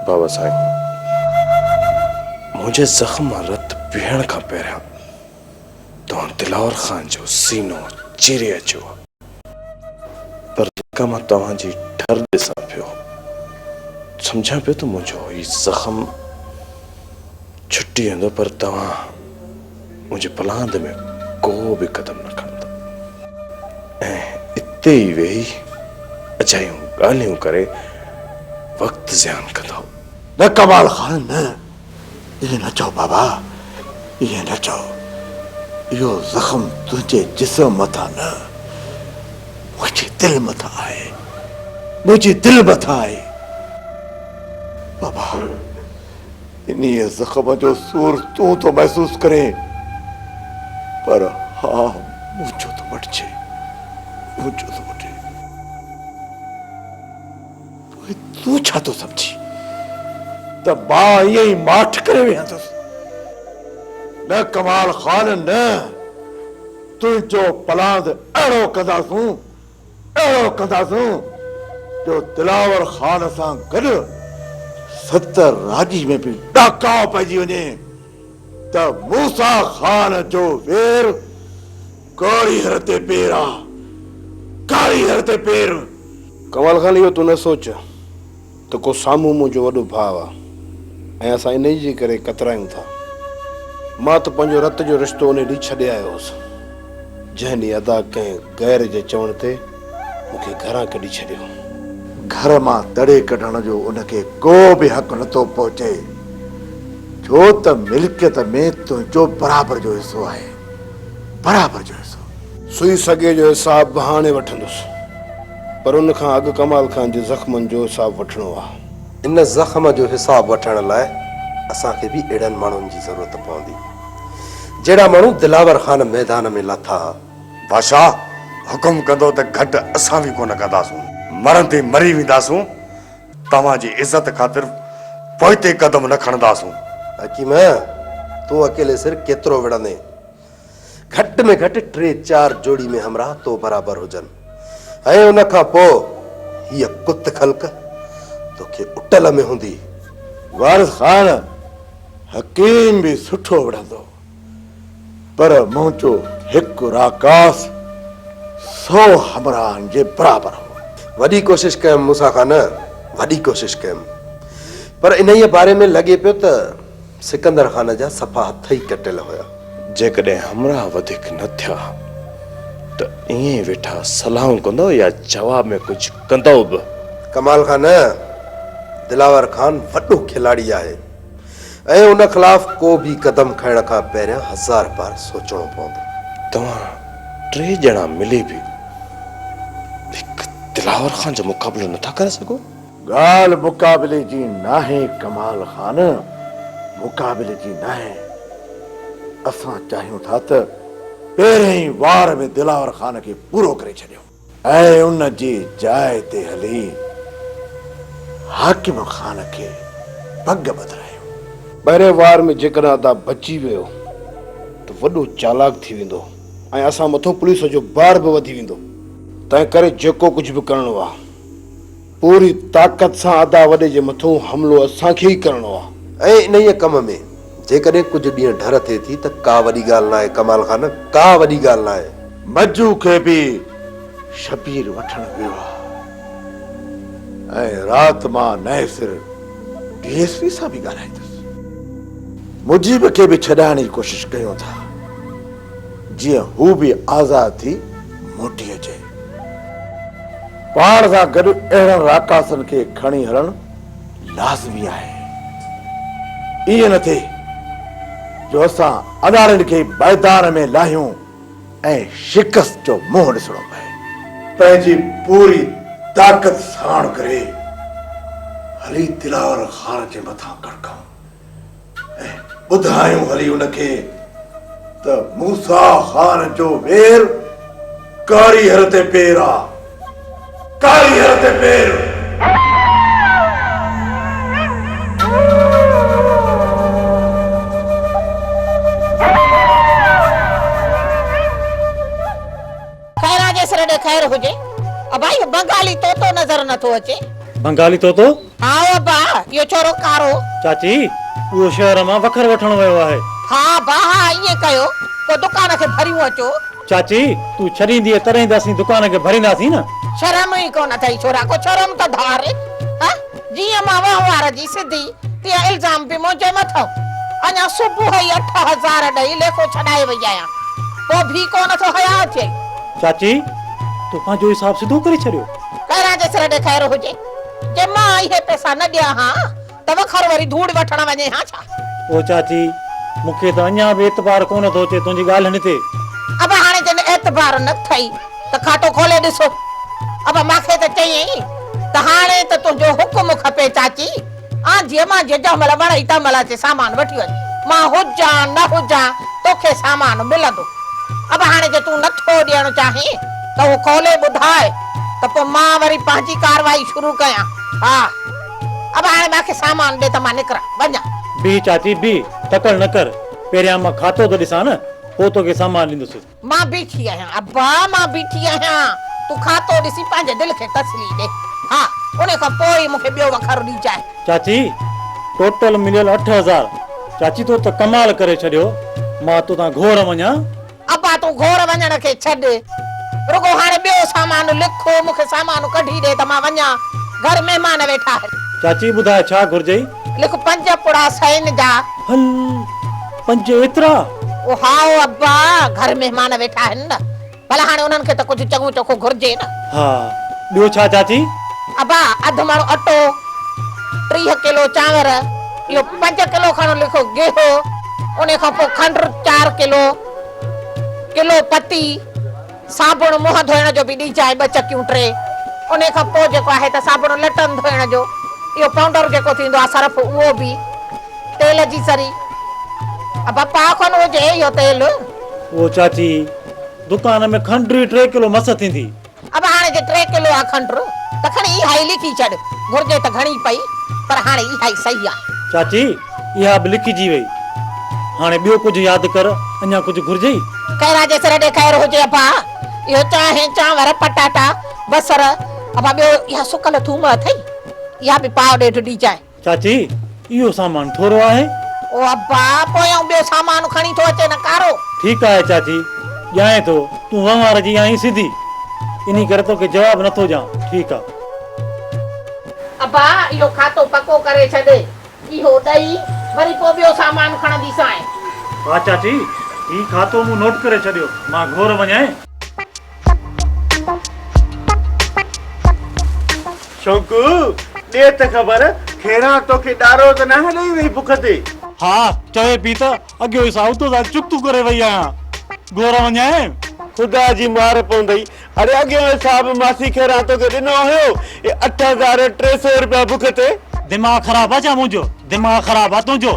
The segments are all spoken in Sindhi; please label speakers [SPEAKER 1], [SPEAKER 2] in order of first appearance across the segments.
[SPEAKER 1] بابا سائين منهنجي زخم مان رت پيهڻ کان پهريان توهان دلاور خان جو سينو چيري اچيو پر جيڪا مان توهان جي ٺر ڏسان پيو، سمجهان پيو ته منهنجو هي زخم ڇٽي ويندو پر توهان منهنجي پلاند ۾ ڪو به قدم نه کڻندو ۽ اتي ئي ويهي اجايون ڳالهيون ڪري وقت زيان ڪندو. نه ڪمال
[SPEAKER 2] خان نه! ائين نه چئو بابا، ائين نه چئو. اهو زخم تنهنجي جسم مٿان نه، منهنجي دل مٿان آهي. منهنجي دل مٿان آهي. بابا، انهيء زخم جو سور تون ٿو محسوس ڪرين، پر هاء منهنجو ٿو وٺجي، منهنجو ٿو وٺي. پوء تون ڇا ٿو سمجهين ته مان ائين ئي ماٺ ڪري ويهندس؟ نه ڪمال خان نه، تنهنجو پلاند اهڙو ڪنداسون، اهڙو ڪنداسون جو دلاور خان سان گڏ ستر راڄي ۾ به ڏاڪاء پئجي وڃي ته موسيٰ خان جو وير ڪاري هر تي پير آ. ڪاري هر تي پير. ڪمال خان
[SPEAKER 1] اهو تون نه سوچ ته ڪو سامهون منهنجو وڏو ڀاء آ ۽ اسان انهيء جي ڪري ڪترايون ٿا. مان ته پنهنجو رت جو رشتو انهيء ڏينهن ڇڏي آيو هوس، جنهن ڏينهن ادا ڪنهن غير جي چوڻ تي مون کي گهران ڪڍي ڇڏيو. گهر
[SPEAKER 2] مان تڙي ڪڍڻ جو ان کي ڪو به حق نه ٿو پهچي، ڇو ته ملڪيت ۾ تنهنجو برابر جو حصو آهي. برابر جو حصو. سوئي سڳي جو
[SPEAKER 1] حساب به هاڻي وٺندس، پر ان کان اڳ ڪمال خان جي زخمن جو حساب وٺڻو آ. ان زخم
[SPEAKER 3] جو حساب وٺڻ لاء اسان کي به اهڙن ماڻهن جي ضرورت پوندي، جهڙا ماڻهو دلاور خان ميدان ۾ لاٿا ها. بادشاهه
[SPEAKER 4] حڪم ڪندو ته گهٽ اسان به ڪونه ڪنداسون، مرندي مري وينداسون، توهان جي عزت خاطر پوئتي قدم نه کڻنداسون. حڪيم،
[SPEAKER 3] تون اڪيلي سر ڪيترو وڙهندين؟ گهٽ ۾ گهٽ ٽي چار جوڙي ۾ همراهه تو برابر هجن ۽ ان کان پوء هيء ڪت خلق توکي اٽل ۾ هوندي. وارث
[SPEAKER 2] خان، حڪيم به سٺو وڙهندو. پر منهنجو هڪ راڪاس سؤ همراهن جي برابر هو. وڏي ڪوشش ڪيم
[SPEAKER 3] موسيٰ خان، وڏي ڪوشش ڪيم، پر انهيء باري ۾ لڳي پيو ته سڪندر خان جا صفا هٿ ئي ڪٽيل هيا. جيڪڏهن همراهه
[SPEAKER 1] وڌيڪ نه ٿيا ته ائين ئي ويٺا صلاحون ڪندؤ يا جواب ۾ ڪجهه ڪندؤ به؟ ڪمال خان،
[SPEAKER 3] دلاور خان وڏو کلاڙي آهي. ۽ ان خلاف ڪو به قدم کڻڻ کان پهريان هزار بار سوچڻو پوندو. توهان
[SPEAKER 1] ٽي ڄڻا ملي به هڪ دلاور خان جو مقابلو نه ٿا ڪري سگهو؟ ڳالهه
[SPEAKER 2] مقابلي جي ناهي ڪمال خان، مقابلي جي ناهي. اسان چاهيون ٿا ته پهرئين وار ۾ دلاور خان کي پورو ڪري ڇڏيون. اهي ان جي جاء تي هلي حاڪم خان کي پڳ ٻڌرايو. پهرين وار ۾
[SPEAKER 1] جيڪڏهن ادا بچي ويو ته وڏو چالاڪ ٿي ويندو ۽ اسان مٿو پوليس جو بار به وڌي ويندو. تنهنڪري جيڪو ڪجهه به ڪرڻو آ. پوري طاقت سان ادا وڏي جي مٿون حملو اسان کي ئي ڪرڻو آ. ۽ انهيء ڪم ۾
[SPEAKER 3] جيڪڏهن ڪجهه ڏينهن ڍر ٿئي ٿي ته ڪا وڏي ڳالهه ناهي ڪمال خان، ڪا وڏي ڳالهه ناهي. مجو کي به
[SPEAKER 2] شبير وٺڻ ويو آ ۽ رات مان نئين سر ڊي ايس پي سان به ڳالهائيندس. مجيب کي به ڇڏائڻ جي ڪوشش ڪيون ٿا جيئن هو به آزاد ٿي موٽي اچي. پاڻ سان گڏ اهڙن راڪاسن کي کڻي هلڻ لازمي آهي. ائين نه ٿئي جو اسان اڏاڙين کي ميدان ۾ لاهيون ۽ شڪست جو منهن ڏسڻو پئي. پنهنجي پوري طاقت ساڻ ڪري هلي دلاور خان جي مٿان ڪڙڪون. ۽ ٻڌايون هلي ان کي ته موسيٰ خان جو وير ڪاري هر تي پير آ، ڪاري هر تي پير.
[SPEAKER 5] خيراجي سر ڏي خير هجي. ابا اهو بنگالي طوطو نظر نٿو اچي. بنگالي طوطو؟ ها ابا اهو
[SPEAKER 6] ڇورو ڪارو. چاچي
[SPEAKER 5] اهو شهر مان وکر وٺڻ ويو آهي. ها ابا ها
[SPEAKER 6] ائين ڪيو پوء دڪان کي ڀريون اچو. چاچي تون
[SPEAKER 5] ڇڏيندينء تڏهن ته اسين دڪان کي ڀرينداسين نه. شرم ئي ڪونه اٿئي
[SPEAKER 6] ڇورا ڪو شرم ته ڌار. جيئن مان وهنوار جي سڌي، تيئن الزام به منهنجي مٿو. اڃا صبح ئي اٺ هزار ڏئي ليکو ڇڏائي وئي آهيان. پوء ڀي ڪو نه ٿو حياء اٿيئي. چاچي،
[SPEAKER 5] تو پنهنجو حساب سڌو ڪري ڇڏيو. خيران جي سر ڏي
[SPEAKER 6] خير هجي. جي مان اهي پئسا نه ڏيان ها ته وکر وري ڌوڙ وٺڻ وڃي ها ڇا؟ او چاچي،
[SPEAKER 5] مون کي ته اڃا به اعتبار ڪو نه ٿو اچي تنهنجي ڳالهين تي. ابا هاڻي جڏهن
[SPEAKER 6] اعتبار نه اٿئي. ته کاتو کولي ڏس. ابا ماکي ته چيئين ته هاڻي ته تنهنجو حڪم کپي چاچي. آن جي مان جيجهه مهل وڻئي تنهن مهل اچي سامان وٺي وڃ. مان هجان نه هجان توکي سامان ملندو. ابا هاڻي جي تون نٿو ڏيڻ چاهين ته اهو کولي ٻڌاء ته پوء مان وري پنهنجي ڪارروائي شروع ڪيان. ها ابا هاڻي ماکي سامان ڏي ته مان نڪران وڃان. بيهه چاچي
[SPEAKER 5] بيهه تڪڙ نه ڪر. پهريان مان کاتو ته ڏسان نه پوء توکي سامان ڏيندس. مان بيٺي آهيان
[SPEAKER 6] ابا، مان بيٺي آهيان. تون کاتو ڏسي پنهنجي دل کي تسلي ڏي. ها، ان کان پوء ئي مون کي ٻيو وکر ڏجانء. چاچي،
[SPEAKER 5] ٽوٽل مليل اٺ هزار. چاچي تو ته ڪمال ڪري ڇڏيو. مان توتان گهور وڃان؟ ابا تون
[SPEAKER 6] گهور وڃڻ کي ڇڏ. رڳو هاڻي ٻيو سامان لک. مون کي سامان ڪڍي ڏي ته مان وڃان. گهر مهمان ويٺا آهن. چاچي ٻڌاء ڇا
[SPEAKER 5] گهرجئي؟ لک پنج
[SPEAKER 6] پڙا سئين جا. هل
[SPEAKER 5] پنج ايترا. او هائو
[SPEAKER 6] ابا گهر مهمان ويٺا آهن نه ڀلا هاڻي انهن کي ته ڪجهه چڱو چوکو گهرجي نه. ها ٻيو
[SPEAKER 5] ڇا چاچي. ابا اڌ
[SPEAKER 6] مڻ اٽو، ٽيهه ڪلو چانور، اهو پنج ڪلو کڻ لک گيهو، انهي کان پوء کنڊ چار ڪلو، ڪلو پتي. صابڻ منهن ڌوئڻ جو به ڏيجانء ٻه چڪيون ٽي. انهي کان پوء جيڪو آهي ته صابڻ لٽن ڌوئڻ جو اهو پائونڊر جيڪو ٿيندو آهي صرف اهو به تيل جي ذري بپا کن هجي اهو تيل. اهو چاچي
[SPEAKER 5] دڪان ۾ کنڊ ئي ٽي ڪلو مس ٿيندي. ابا هاڻي جي ٽي
[SPEAKER 6] ڪلو آهي کنڊ ته کڻي اها ئي لکي ڇڏ. گهرجي ته گهڻي پئي پر هاڻي اها ئي صحيح آهي. چاچي اها
[SPEAKER 5] به لکجي وئي. هاڻي ٻيو ڪجهه ياد ڪر، اڃا ڪجهه گهرجئي؟ خيرا جي سر ڏي
[SPEAKER 6] خير هجي ابا. اهو چانهه، چانور، پٽاٽا، بصر، ابا ٻيو اها سڪل ٿوم اٿئي؟ اها به پاء ڏيڍ ڏيجانء. چاچي،
[SPEAKER 5] اهو سامان ٿورو آهي. او ابا،
[SPEAKER 6] پوء آئون ٻيو سامان کڻي ٿو اچي نه ڪارو. ٺيڪ آهي چاچي،
[SPEAKER 5] ڄائين ٿو. تون وهنوار جي آهين سڌي، انهي ڪري توکي جواب نٿو ڏيان. ٺيڪ آ. ابا،
[SPEAKER 6] اهو کاتو پڪو ڪري ڇڏ. اهو ڏئي وري ڪو ٻيو سامان
[SPEAKER 5] کڻندي سانء. واهه چاچي، هي کاتو مون نوٽ ڪري ڇڏيو، مان گهور وڃائي.
[SPEAKER 2] شونڪو، ڏي ته خبر، کيران توکي ڏارو ته ناهي ڏئي وئي بک تي؟ ها، چوي
[SPEAKER 5] پئي ته اڳيو ئي ساهوتو سان چڪتون ڪري وئي آهيان، گهور وڃائي. خدا جي
[SPEAKER 2] مار پوندئي، اڙي اڳي هن صاحب ماسي کيران توکي ڏنو هيو اهي اٺ هزار ٽي سئو روپيا بک تي. دماغ خراب آ
[SPEAKER 5] ڇا منهنجو. دماغ خراب آ تنهنجو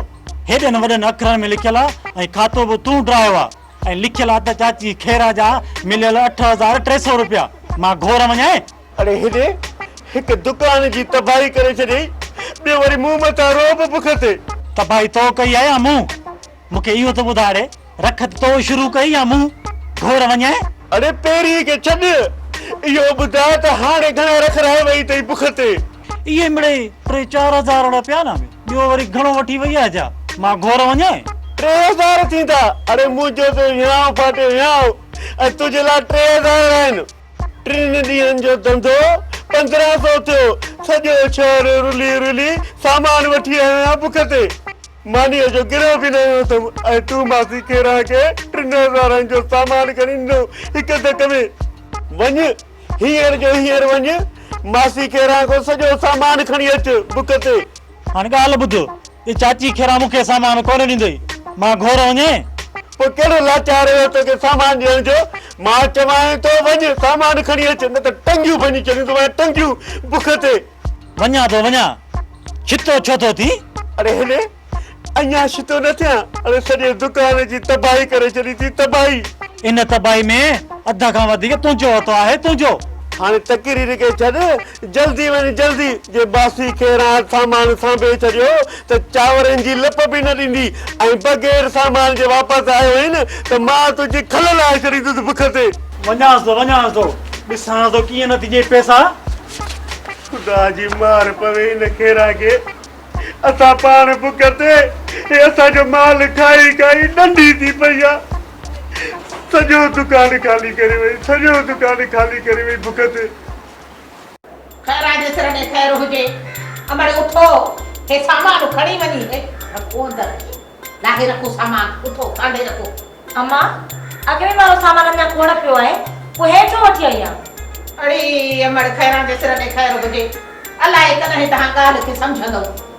[SPEAKER 5] هيڏن وڏن اکرن ۾ لکيل آ ۽ کاتو به تون ڊرايو آ ۽ لکيل آ ته چاچي کيران جا مليل اٺ هزار ٽي سئو روپيا مان گهور وڃائين. اڙي هيڏي
[SPEAKER 2] هڪ دڪان جي تباهي ڪري ڇڏيئي ٻيو وري مون مٿان روئب بک تي. تباهي تو ڪئي
[SPEAKER 5] آ يا مون. مون کي اهو ته ٻڌاڙي رک ته تو شروع ڪئي يا مون گهور وڃائي. اڙي پيري
[SPEAKER 2] کي ڇڏ اهو ٻڌاء ته هاڻي گهڻا رک رهائي وئي اٿئي بک تي. اهي مڙئي
[SPEAKER 5] ٽي چار هزار اڙي پيا نه ۾ ٻيو وري گهڻو وٺي وئي آهي جا مان گهور وڃائي. ٽي هزار
[SPEAKER 2] ٿيندا اڙي منهنجو ته هيانء ڦاٽي هيانء ۽ تنهنجي لاء ٽي هزار آهن. ٽن ڏينهن جو ڌنڌو پندرهن سو ٿيو. سڄو شهر رلي رلي سامان وٺي آيو آهيان بک تي. مانيء جو گرهه به نه هنيو اٿم ۽ تون ماسي کيران کي ٽن هزارن جو سامان کڻي ڏنو هڪ ڌڪ ۾. وڃ، هينئر جو هينئر وڃ ماسي کيران کان سڄو سامان کڻي اچ بک تي. هاڻي ڳالهه ٻڌ.
[SPEAKER 5] ته چاچي کيران مون کي سامان ڪونه ڏيندئي، مان گهور وڃين؟ پوء ڪهڙو
[SPEAKER 2] لاچار هيو توکي سامان ڏيڻ جو، مان چوانء ٿو وڃ سامان کڻي اچ، نه ته ٽنگيون ڀڃي ڇڏيندومانء، ٽنگيون بک تي. وڃان ٿو
[SPEAKER 5] وڃان، ڇتو ڇو ٿو ٿين؟ اڙي هلي،
[SPEAKER 2] اڃا ڇتو نه ٿيان، اڙي سڄي دڪان جي تباهي ڪري ڇڏي ٿي، تباهي. ان تباهي
[SPEAKER 5] ۾ اڌ کان وڌيڪ تنهنجو هٿ آهي، تنهنجو. هاڻي تقرير
[SPEAKER 2] کي ڇڏ. جلدي وڃ جلدي، جي باسي کي راند سامان سانڀي ڇڏيو ته چانورن جي لپ به نه ڏني ۽ بغير سامان جي واپس آيو هين ته مان تنهنجي کل لاهي ڇڏيندس بک تي. وڃانس
[SPEAKER 5] ٿو وڃانس ٿو، ڏسانس ٿو ڪيئن نه تنهنجي پئسا. خدا
[SPEAKER 4] جي مار پوي ان کيران کي، اسان پاڻ بک تي، هي اسان جو مال کائي کائي ڏنڊي ٿي پئي آ. سڄو دڪان خالي ڪري وئي، سڄو دڪان خالي ڪري وئي بک تي.
[SPEAKER 6] خيران جي سر ۾ خير هجي. امڙ اٿو، هي سامان کڻي وڃي هي رکو اندر اچو. لاهي رکو سامان، اٿو ڪانڊي رکو. اما،
[SPEAKER 7] اڳين وارو سامان اڃا کوڙ پيو آهي، پوء هي ڇو وٺي آئي آهين؟ اڙي امڙ
[SPEAKER 6] خيران جي سر ۾ خير هجي. الائي ڪڏهن تهان ڳالهه کي سمجهندئو.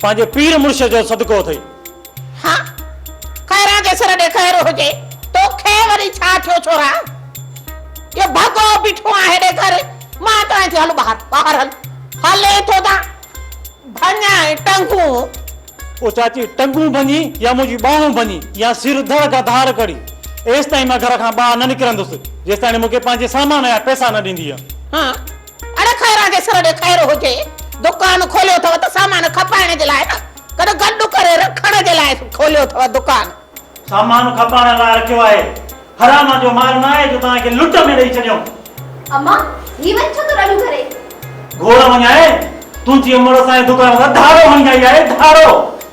[SPEAKER 5] پنهنجي پير مڙس جو صدقو اٿئي. ها
[SPEAKER 6] خيران جي سر ڏي خير هجي توکي وري ڇا ٿيو ڇورا اهو ڀڳو بيٺو آهي هيڏي گهر مان ٽانئين ٿي هل ٻاهر ٻاهر هل هلين ٿو تان ڀڃائين ٽنگون. او
[SPEAKER 5] چاچي ٽنگون ڀڃي يا منهنجي ٻانهون ڀڃي يا سر ڌڙ کان ڌار ڪڙي ايستائين مان گهر کان ٻاهر نه نڪرندس جيستائڻي مونکي پنهنجي سامان يا پئسا نه ڏيندينء. ها
[SPEAKER 6] اڙي خيران جي سر ڏي خير هجي، دڪان کوليو اٿو ته سامان کپائڻ جي لاء نه، گڏ گڏ ڪري رکڻ جي لاء کوليو اٿو دڪان. سامان
[SPEAKER 5] کپائڻ لاء رکيو آهي، حرام جو مال نه آهي جو توهان کي لٽ ۾ ڏئي ڇڏيون. اما، هي وڃ ڇو ٿو رڙيون
[SPEAKER 7] ڪرين؟ گهور وڃائي،
[SPEAKER 5] تنهنجي امڙ اسان جي دڪان تان ڌاڙو هڻي آئي آهي، ڌاڙو.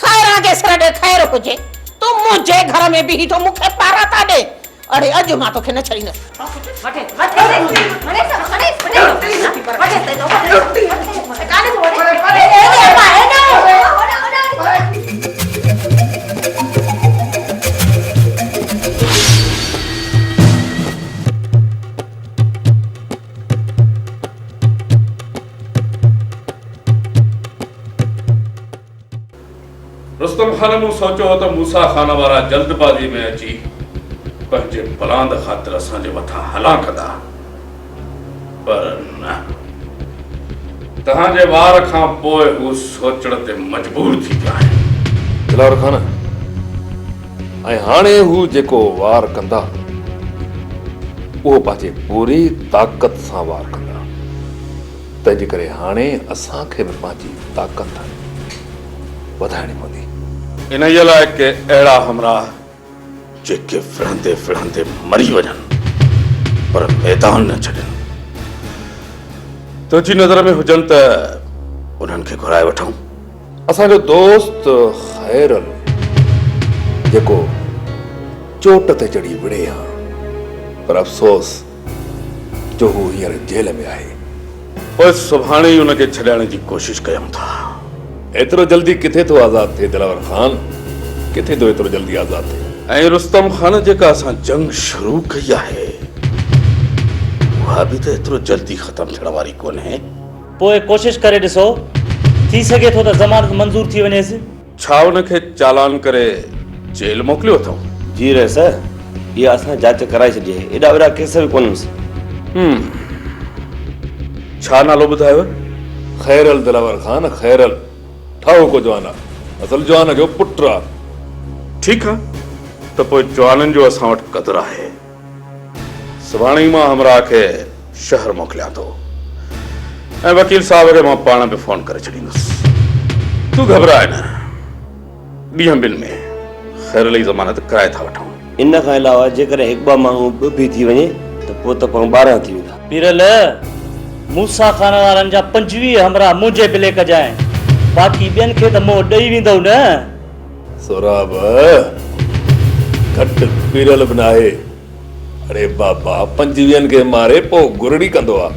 [SPEAKER 5] خير آ گيسر
[SPEAKER 6] ڏي خير هجي تون منهنجي گهر ۾ بيهي ٿو مون کي پارا ٿا ڏي اڙي اڄ مان توکي نه ڇڏيندس.
[SPEAKER 8] رستم خان مون سوچيو هو ته موسيٰ خان وارا جلد بازي ۾ اچي پنهنجي بلاند خاطر اسان جي مٿان هلان ڪندا پر نه توهان جي وار کان پوء هو سوچڻ تي مجبور ٿي پيا آهن. دلاور خان
[SPEAKER 9] ۽ هاڻي هو جيڪو وار ڪندا اهو پنهنجي پوري طاقت سان وار ڪندا. تنهنجي ڪري هاڻي اسان کي به پنهنجي طاقت وڌائڻي پوندي. انهيء لاء
[SPEAKER 8] ڪي اهڙا همراهه جيڪي وڙهندي وڙهندي مري وڃن پر ميدان نه ڇڏين، تنهنجي نظر ۾ هجن ته انهن کي گهرائي وٺون. اسان جو
[SPEAKER 9] دوست خيرل جيڪو چوٽ تي چڙهي وڙهي ها پر افسوس جو هو هينئر جيل ۾ آهي. پوء
[SPEAKER 8] سڀاڻي ئي ان کي ڇڏائڻ جي ڪوشش ڪيون ٿا. ايترو
[SPEAKER 9] جلدي ڪٿي ٿو آزاد ٿئي دلاور خان، ڪٿي ٿو ايترو جلدي آزاد ٿئي. ۽ رستم خان جيڪا
[SPEAKER 8] اسان جنگ شروع ڪئي آهي، اها به ته ايترو جلدي ختم ٿيڻ واري ڪونهي. پوء ڪوشش
[SPEAKER 5] ڪري ڏسو، ٿي سگهي ٿو ته ضمانت منظور ٿي وڃيس. ڇا ان کي
[SPEAKER 8] چالان ڪري جيل موڪليو اٿئون؟ جي رئيس،
[SPEAKER 10] اها اسان جاچ ڪرائي ڇڏي آهي. ايڏا وڏا ڪيس به ڪونهن سي. هم.
[SPEAKER 8] ڇا نالو ٻڌايو؟ خيرل
[SPEAKER 9] دلاور خان، خيرل. ٺاهوڪو جوان آ. اصل جوان جو پٽ آ. ٺيڪ آ،
[SPEAKER 8] ته پوء جوانن جو اسان وٽ قدر آهي. سڀاڻي مان همراهه کي شهر موڪليان ٿو ۽ وڪيل صاحب کي مان پاڻ به فون ڪري ڇڏيندس تون گهبراء نه ڏينهن ٻن ۾ خير علي ضمانت ڪرائي ٿا وٺون ان کان علاوه
[SPEAKER 10] جيڪڏهن هڪ ٻه ماڻهو به بي ٿي وڃي ته پوء ته پاڻ ٻارهن ٿي ويندا. پيرل،
[SPEAKER 5] موسيٰ خان وارن جا پنجويهه همراهه منهنجي بليڪ جا آهن، باقي ٻين کي ته منهن ڏئي ويندؤ نه؟ سهراب،
[SPEAKER 9] گهٽ پيرل به ناهي. اڙي بابا، پنجويهن کي ماري پوء گرڙي ڪندو آ.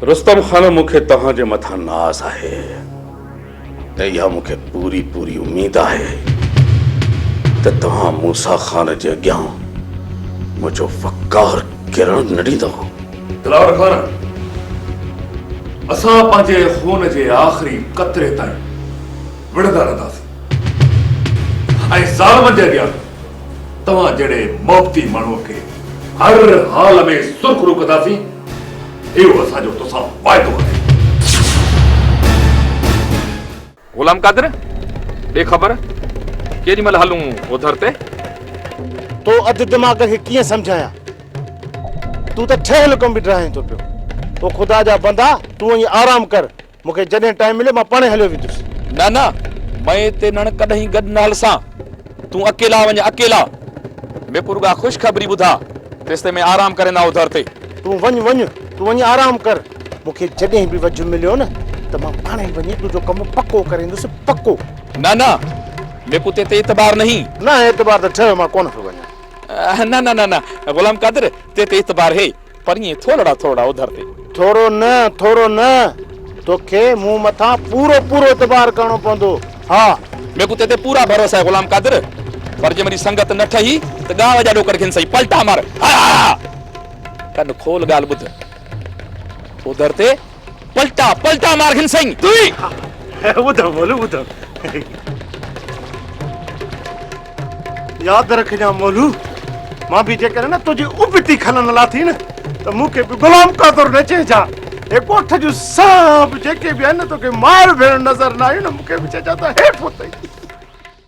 [SPEAKER 9] رستم خان، مون کي
[SPEAKER 8] توهان جي مٿان ناز آهي ۽ اها مون کي پوري پوري اميد آهي ته توهان موسيٰ خان جي اڳيان منهنجو وقار ڪرڻ نه ڏيندؤ. دلاور خان،
[SPEAKER 9] اسان پنهنجي خون جي آخري قطري تائين وڙهندا رهنداسين. ۽ ظالمن جي اڳيان توهان جهڙي محبتي ماڻهوء کي هر حال ۾ سرخرو ڪنداسين، اهو اسان جو توسان وعدو آهي. غلام قادر، ڏي خبر، ڪيڏي مهل هلون اوڌر تي؟ تو
[SPEAKER 2] اڌ دماغ کي ڪيئن سمجهايان؟ تون ته ٺهيل ڪم به ڊاهين ٿو پيو. او خدا جا بندا، تون وڃي آرام ڪر. مون کي جڏهن ٽائيم مليو مان پاڻهي هليو ويندس. نه نه
[SPEAKER 9] مئي تي نڻ ڪڏهن گڏ نه هلسان تون اڪيلا وڃ اڪيلا ميڪو رڳا خوش خبري ٻڌا تيستائين مئي آرام ڪرين آئو در تي. تون وڃ وڃ
[SPEAKER 2] تون وڃ آرام ڪر مون کي جڏهن به وجهه مليو نه ته مان پاڻهي وڃي تنهنجو ڪم پڪو ڪري ايندس پڪو. نه نه
[SPEAKER 9] ميڪو تي تي اعتبار نهين. نه اعتبار ته ٺهيو
[SPEAKER 2] مان ڪونه پيو وڃان. نه نه نه نه
[SPEAKER 9] غلام قادر تي تي اعتبار هي. پرينء ٿولڙا ٿولڙا اوڌر تي. ٿورو نه، ٿورو
[SPEAKER 2] نه، توکي مون مٿان پورو پورو اعتبار ڪرڻو پوندو، ها! ميکون تنهن تي
[SPEAKER 9] پورا ڀروسا آهي غلام قادر، پر جي مري سنگت نه ٺهي ته ڳاهه جا ڏوڪڙ گهن سهي، پلٽا مار، هاء هاء هاء! ڪن کول ڳالهه ٻڌ، اوڌر تي. پلٽا پلٽا مار گھن سائين تئي ٻڌ مولو ٻڌ
[SPEAKER 2] ياد رکجان مولو مان به جيڪڏهن نه تنهنجي ابتي کلن لاٿي نه ته مون کي به غلام قادر نه چئجان هي ڳوٺ جون سڀ جيڪي به آهن نه توکي مائر ڀيڻ نظر نه آيون نه مون کي به چئجان ته هيٺ اتئي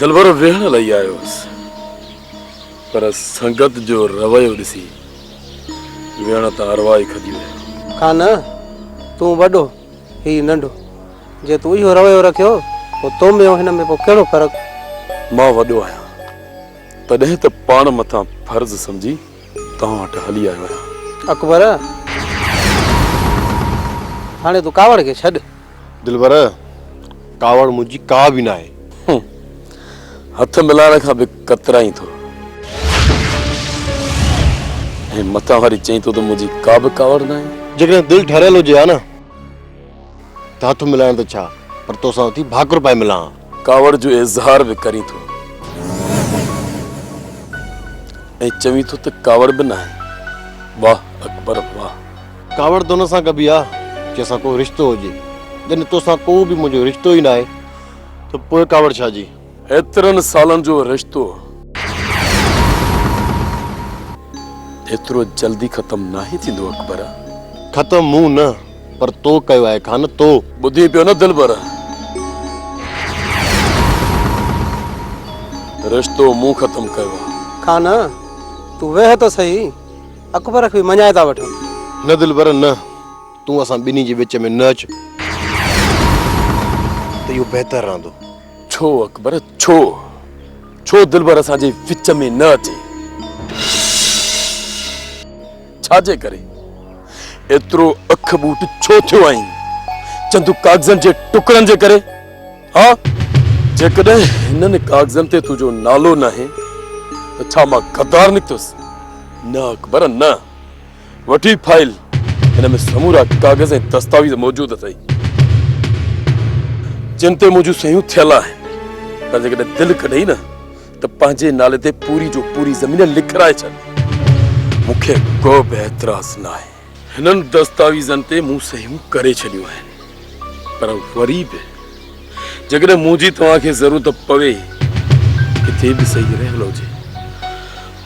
[SPEAKER 1] دلبر ويهڻ لئي آيو هوس پر سنگت جو رويو ڏسي ويهڻ تان ارواح ئي کڄي ويو. کان
[SPEAKER 11] تون وڏو هي ننڍو. جي تون اهو رويو رکيو پوء تو ۾ ۽ هن ۾ پوء ڪهڙو فرق؟ مان وڏو آهيان
[SPEAKER 1] تڏهن ته پاڻ مٿان فرض سمجهي توهان وٽ هلي آيو آهيان. اڪبر
[SPEAKER 11] هاڻي تون ڪاوڙ کي ڇڏ. دلبر!
[SPEAKER 3] ڪاوڙ منهنجي ڪا به ناهي.
[SPEAKER 1] هٿ ملائڻ کان به ڪترائين ٿو. ۽ متان وري چئين ٿو ته منهنجي ڪا به ڪاوڙ ناهي. جيڪڏهن دل ٺريل هجي ها
[SPEAKER 3] نه ته هٿ ملائڻ ته ڇا پر تو سان اٿي ڀاڪر پائي ملان ها. ڪاوڙ جو اظهار
[SPEAKER 1] به ڪرين ٿو ۽ چوين ٿو ته ڪاوڙ به ناهي. واه اڪبر واه! ڪاوڙ ته ان
[SPEAKER 3] سان ڪبي آ جنهن سان ڪو رشتو هجي جڏهن توسان ڪو به منهنجو رشتو ئي ناهي ته پوء ڪاوڙ ڇا جي. ايترن سالن
[SPEAKER 1] جو رشتو ايترو جلدي ختم ناهي ٿيندو اڪبر. ختم مون
[SPEAKER 3] نه پر تو ڪيو آهي خان تو. ٻڌين پيو نه دلبر
[SPEAKER 1] رشتو مون ختم ڪيو آ. خان
[SPEAKER 11] تون ويهه ته سهي. اڪبر کي به مڃائي ٿا وٺون. نه دلبر نه،
[SPEAKER 3] تون اسان ٻنهي جي وچ ۾ نه اچ ته اهو بهتر رهندو. ڇو اڪبر
[SPEAKER 1] ڇو؟ ڇو دلبر اسان جي وچ ۾ نه اچي؟ ڇا جي ڪري ايترو اک ٻوٽ ڇو ٿيو آهين؟ چند ڪاغذن جي ٽڪرن جي ڪري؟ ها جيڪڏهن هنن ڪاغذن تي تنهنجو نالو ناهي ته ڇا مان غدار نڪتس؟ نه اڪبر نه. وٺ هي فائل هن ۾ سمورا ڪاغذ ۽ دستاويز موجود اٿئي جن تي منهنجون صحيون ٿيل آهن پر جيڪڏهن دل ڪڍئي نه ته پنهنجي نالي تي پوري جو پوري زمين لکرائي ڇڏ مون کي ڪو به اعتراض ناهي. هنن دستاويزن تي مون صحيحون ڪري ڇڏيون آهن پر وري به جيڪڏهن منهنجي توهان کي ضرورت پوي ڪٿي به صحيح رهيل هجي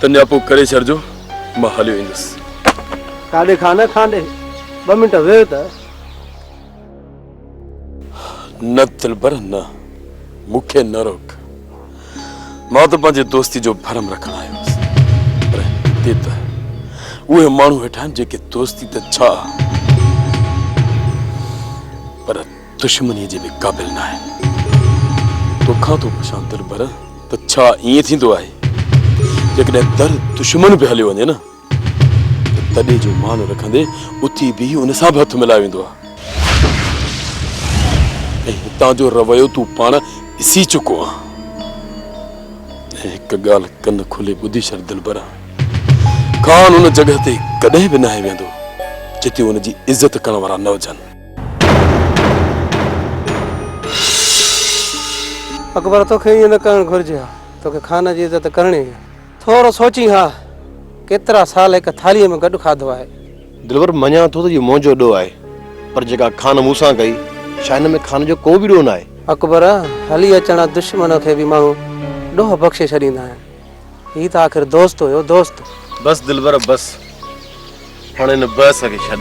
[SPEAKER 1] ته نياپو ڪري ڇڏجو مان هليو ايندس کانڊي
[SPEAKER 11] کانه کانڊي ٻه منٽ ويهه ته
[SPEAKER 1] نه دلبر نه، مون کي نه روڪ. مان ته پنهنجي دوستي جو ڀرم رکڻ آيو هوس. پر هتي ته اهي ماڻهو ويٺا آهن جيڪي دوستي ته ڇا پر دشمنيء جي به قابل ناهن. توکان ٿو پڇان دلبر ته ڇا ائين ٿيندو آهي؟ جيڪڏهن در دشمن به هليو وڃي نه ته تڏي جو مان رکندي اٿي بيهي ان سان به هٿ ملائي ويندو آ ۽
[SPEAKER 12] هتان جو رويو تون پاڻ ڏسي چڪو آ هڪ ڳالهه ڪن کولي ٻڌي شر دلبرا خان ان جڳهه تي ڪڏهن به ناهي ويندو جتي ان جي عزت ڪرڻ وارا نه هجن
[SPEAKER 11] اڪبر توکي ائين نه ڪرڻ گهرجي ها توکي خان جي عزت ڪرڻي هي ٿورو سوچين ها، ڪيترا سال هڪ ٿالهيء ۾ گڏ کاڌو آهي. دلبر، مڃان
[SPEAKER 3] ٿو ته اهو منهنجو ڏوهه آهي، پر جيڪا کان مون سان ڪئي، ڇا هن ۾ کان جو ڪو به ڏوهه ناهي؟ اڪبر، هلي
[SPEAKER 11] اچڻ دشمن کي به ماڻهو ڏوهه بخشي ڇڏيندا آهن، هي ته آخر دوست هيو،
[SPEAKER 3] دوست! بس
[SPEAKER 11] دلبر بس،
[SPEAKER 3] هاڻ
[SPEAKER 11] هن
[SPEAKER 3] بحث
[SPEAKER 11] کي
[SPEAKER 3] ڇڏ.